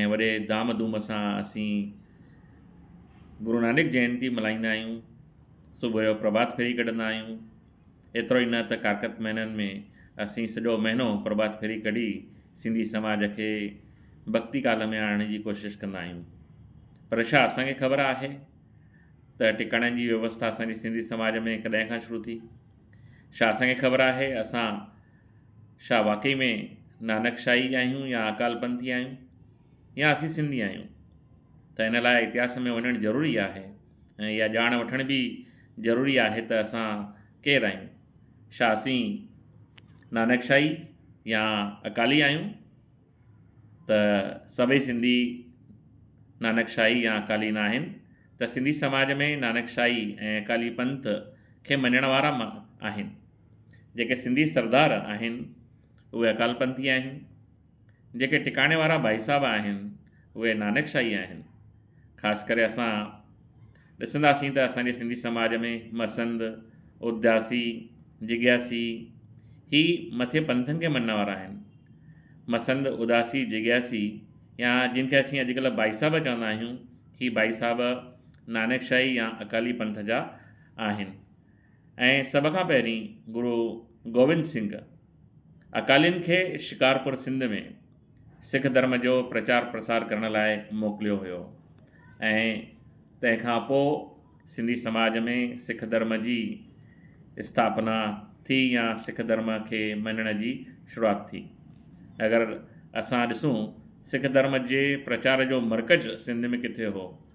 ۽ وڏي ڌام ڌوم سان اسين گرونانڪ جينتي ملهائيندا آهيون. صبح جو پرڀات ڦيري ڪڍندا آهيون. ايترو ئي نه ته ڪارڪت مهينن ۾ اسين سڄو مهينو پرڀات ڦيري ڪڍي سنڌي سماج کي ڀڳتي ڪال ۾ آڻڻ جي ڪوشش ڪندا آهيون. پر ڇا اسان کي خبر آهي ته ٽڪاڻن جي ويوسٿا اسان جي سنڌي سماج ۾ ڪڏهن کان شروع ٿي؟ ڇا اسان کي خبر آهي اسان ڇا واقعي ۾ نانڪ شاهي آهيون يا اڪال پنٿي آهيون يا اسين سنڌي آهيون ته ان لاء اتهاس ۾ وڃڻ ضروري آهي ۽ اها ڄاڻ وٺڻ به ضروري آهي ته اسان ڪير آهيون؟ ڇا اسين نانڪ شاهي يا اڪالي آهيون ته سڀئي سنڌي نانڪ شاهي يا اڪالي نه آهن ته سنڌي سماج ۾ نانڪ شاهي ۽ اڪالي پنٿ کي مڃڻ وارا آهن. جيڪي سنڌي سردار آهن اهي اڪالپنٿي آهن، جيڪي ٽڪاڻي وارا ڀائي صاحب آهن اهي نانڪ شاهي آهن، خاص ڪري اسان ڏسنداسين ته اسان جي سنڌي سماج ۾ مسند، اداسي، جگياسي هي مٿين پنٿن کي مڃڻ وارا آهن. مسند، اداسي، جگياسي يا جن کي اسين اڄڪلهه ڀائي صاحب چوندا آهيون هي ڀائي صاحب نانڪ شاهي يا اڪالي پنٿ جا آهن. ۽ سڀ کان پهرين گرو گوبند سنگهه اڪالين کي شڪارپور سنڌ ۾ سک ڌرم جو پرچار پرسار ڪرڻ لاء موڪليو هيو ۽ تنهن کان پوء سنڌي سماج ۾ سک ڌرم جي اسٿاپنا ٿي يا سک ڌرم کي مڃڻ جي شروعات ٿي اگر اسان ڏسون سک ڌرم جي پرچار جو مرڪز سنڌ ۾ ڪٿي هو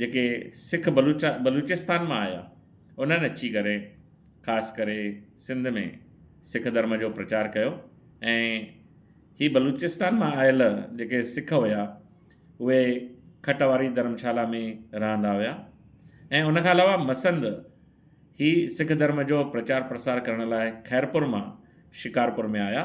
جيڪي سک بلوچ بلوچستان مان آيا انهن اچي ڪري خاص ڪري سنڌ ۾ سک ڌرم جو پرچار ڪيو ۽ هي بلوچستان مان آيل جيڪي سک هيا اهي کٽ واري ڌرمشالا ۾ رهندا هيا ۽ ان کان علاوه مسند هي سک ڌرم جو پرچار پرسار ڪرڻ لاء خيرپور مان شڪارپور ۾ آيا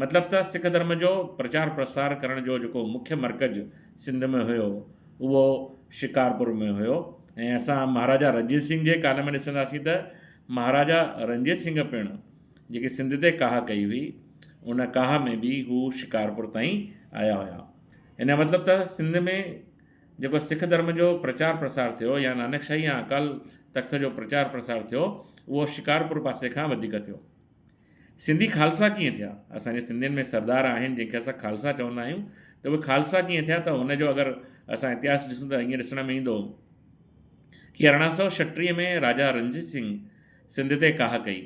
مطلب ته سک ڌرم جو پرچار پرسار ڪرڻ جو جيڪو مکيه مرڪز سنڌ ۾ هيو اهو شڪارپور ۾ هيو ۽ اسان مهاراجا رنجيت سنگهه جي ڪال ۾ ڏسنداسين ته مهاراجا رنجيت سنگهه پڻ جيڪي سنڌ تي ڪاهه ڪئي هئي ان ڪاهه ۾ به هو شڪارپور تائين آيا هيا ان جو مطلب ته سنڌ ۾ جيڪو سک ڌرم جو پرچار پرسار ٿيو يا نانڪ شاهي يا اڪال تخت جو پرچار پرسار ٿيو اهو شڪارپور پاسي کان وڌيڪ ٿيو سنڌي خالصا ڪيئن ٿيا؟ اسان جي سنڌين ۾ سردار آهن جن کي اسان خالصا چوندا آهيون ته اهي خالصا ڪيئن ٿيا ته هن جو اگر اسان اتهاس ڏسون ته ائين ڏسڻ ۾ ايندو ڪي ارڙهن سؤ ڇٽيهه ۾ راجا رنجيت سنگهه سنڌ تي ڪاهه ڪئي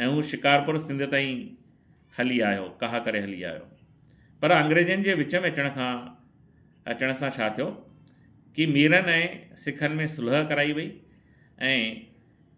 ۽ هو شڪارپور سنڌ تائين هلي آيو ڪاهه ڪري هلي آيو پر انگريزن جي وچ ۾ اچڻ کان اچڻ سان ڇا ٿيو ڪي ميرن ۽ سکن ۾ صلح ڪرائي وئي ۽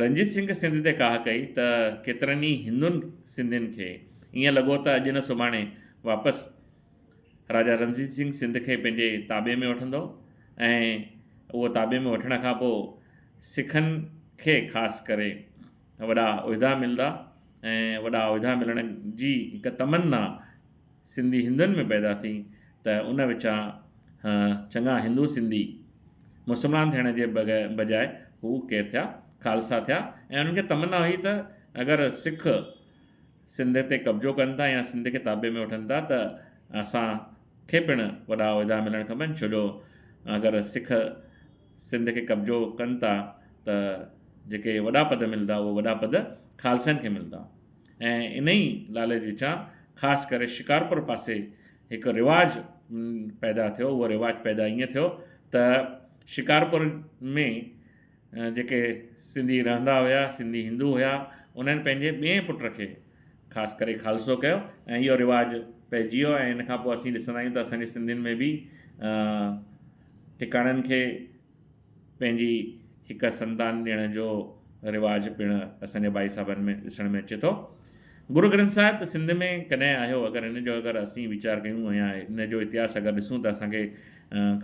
رنجيت سنگهه سنڌ تي ڪاهه ڪئي ته ڪيترن ئي هندن سنڌين کي ائين لڳو ته اڄ نه سڀاڻي واپس راجا رنجيت سنگهه سنڌ کي پنهنجي تابعي ۾ وٺندو ۽ اهو تابعي ۾ وٺڻ کان پوء سکن کي خاص ڪري وڏا عهدا ملدا ۽ وڏا عهدا ملڻ جي هڪ تمنا سنڌي هندن ۾ پيدا ٿي ته ان وچان چڱا هندو سنڌي مسلمان ٿيڻ جي بجاء هو ڪير ٿيا خالصا ٿيا ۽ انهن کي تمنا هئي ته اگر سک سنڌ تي قبضو ڪن ٿا يا سنڌ کي تابع ۾ وٺن ٿا ته اسان کي پڻ وڏا عهدا ملڻ کپن ڇو جو اگر سک سنڌ کي قبضو ڪن ٿا ته جيڪي وڏا پد ملدا اهي وڏا پد خالصن کي ملدا ۽ انهيء لالچ وچان خاص ڪري شڪارپور پاسي هڪ رواج پيدا ٿيو، اهو رواج پيدا ائين ٿيو ته شڪارپور ۾ جيڪي سنڌي رهندا هيا، سنڌي هندو هيا، انهن پنهنجي ٻئي پٽ کي خاص ڪري خالصو ڪيو ۽ اهو رواج پئجي ويو ۽ ان کان پوء اسين ڏسندا آهيون ته اسان جي سنڌين ۾ به ٽڪاڻن کي پنهنجي هڪ سندان ڏيڻ جو رواج پڻ اسان جي ڀائي صاحبن ۾ ڏسڻ ۾ اچي ٿو. گرو گرنٿ صاحب سنڌ ۾ ڪڏهن آيو اگر ان جو اگر اسين ويچار ڪيون يا ان جو اتهاس اگر ڏسون ته اسان کي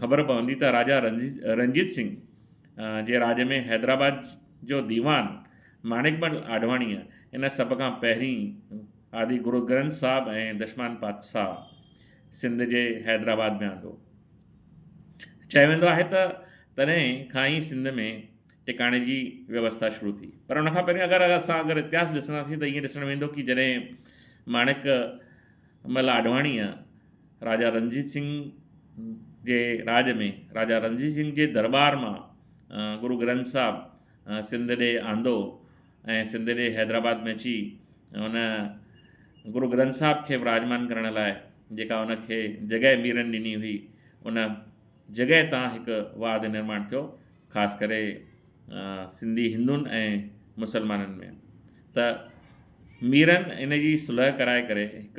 خبر پوندي ته راجا رنجيت سنگهه جي راڄ ۾ حيدرآباد جو ديوان ماڻڪ مل آڏواڻيء ان سڀ کان پهرين آدي گرو گرنٿ صاحب ۽ دشمان پادشاهه سنڌ جي حيدرآباد ۾ آندو. چيو ويندو آهي ته تڏهن کان ئي سنڌ ۾ ٽڪاڻي جي ويوسٿا شروع ٿي پر ان کان پهرين اگر اسان اگر اتهاس ڏسنداسين ته ائين ڏسڻ ويندو ڪي جڏهن ماڻڪ مل آڏواڻيء راجا رنجيت سنگهه جي راڄ ۾ راجا رنجيت سنگهه جي درٻار مان گرو گرنٿ صاحب سنڌ ڏي آندو ۽ سنڌ جي حيدرآباد ۾ اچي ان گرو گرنٿ صاحب کي وراجمان ڪرڻ لاء جيڪا ان کي جڳهه ميرن ڏني هئي ان جڳهه تان هڪ واڌ نرماڻ ٿيو خاص ڪري سنڌي هندن ۽ مسلمانن ۾ ته ميرن ان جي صلح ڪرائي ڪري هڪ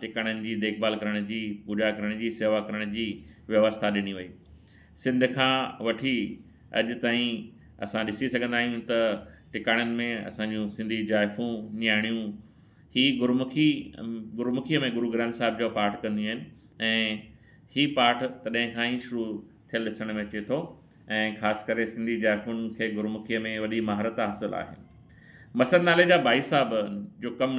ٽڪاڻن جي ديکڀال ڪرڻ جي، پوڄا ڪرڻ جي، سيوا ڪرڻ جي ويوسٿا ڏني وئي. سنڌ کان وٺي اڄ تائين اسان ڏسي سگهندا آهيون ته ٽڪاڻن ۾ اسان جون سنڌي جائفون، نياڻيون هي گرمکي گرمکيء ۾ گرو گرنٿ صاحب جو پاٺ ڪنديون آهن ۽ هي پاٺ تڏهن کان ئي شروع ٿيل ڏسڻ ۾ اچي ٿو ۽ خاص ڪري سنڌي جائفن کي گرمکيء ۾ وڏي مهارت حاصل آهي. مسند نالي جا ڀائي صاحب جو ڪم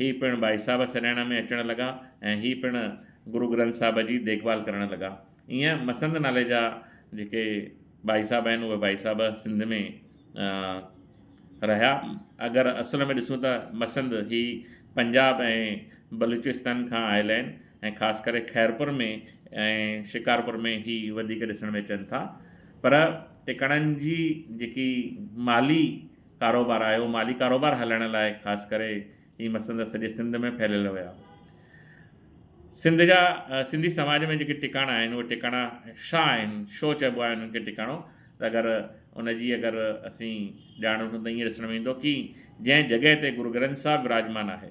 هي پڻ ڀائي صاحب سڏائڻ ۾ اچڻ لڳا ۽ هي پڻ گرو گرنٿ صاحب جي ديکڀال ڪرڻ لڳا. ايئن مسند نالي جا جيڪي ڀائي صاحب آهن اهي ڀائي صاحب سنڌ ۾ رهيا. اگر اصل ۾ ڏسون ته مسند هي پنجاب ۽ بلوچستان کان آيل آهن ۽ خاص ڪري خيرپور ۾ ۽ شڪارپور ۾ هي وڌيڪ ڏسڻ ۾ اچن ٿا. پر ٽڪاڻن جي جيڪي مالي ڪاروبار آيو، مالي ڪاروبار هلائڻ لاء خاص ڪري هي مسند سڄي سنڌ ۾ ڦهليل هيا. سنڌ جا سنڌي سماج ۾ جيڪي ٽڪاڻا آهن اهي ٽڪاڻا شا آهن، شو چئبو آهي انهن کي ٽڪاڻو ته اگر ان جي اگر اسين ڄاڻ وٺون ته ائين ڏسڻ ۾ ايندو ڪي جنهن جڳهه تي گرو گرنٿ صاحب وراجمان آهي،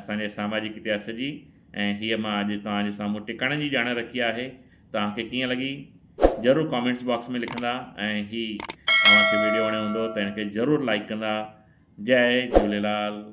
اسان جي ساماجڪ اتهاس جي ۽ هيء مان اڄ توهان جي سامهون ٽڪاڻن جي ڄاڻ رکي آهي. توهان کي ڪيئن لڳي؟ ضرور ڪامينٽس باڪس ۾ لکندا ۽ هي اوهان کي ويڊيو وڻيو هوندو ته هن کي ضرور لائيڪ ڪندا. جئه جهوليلال.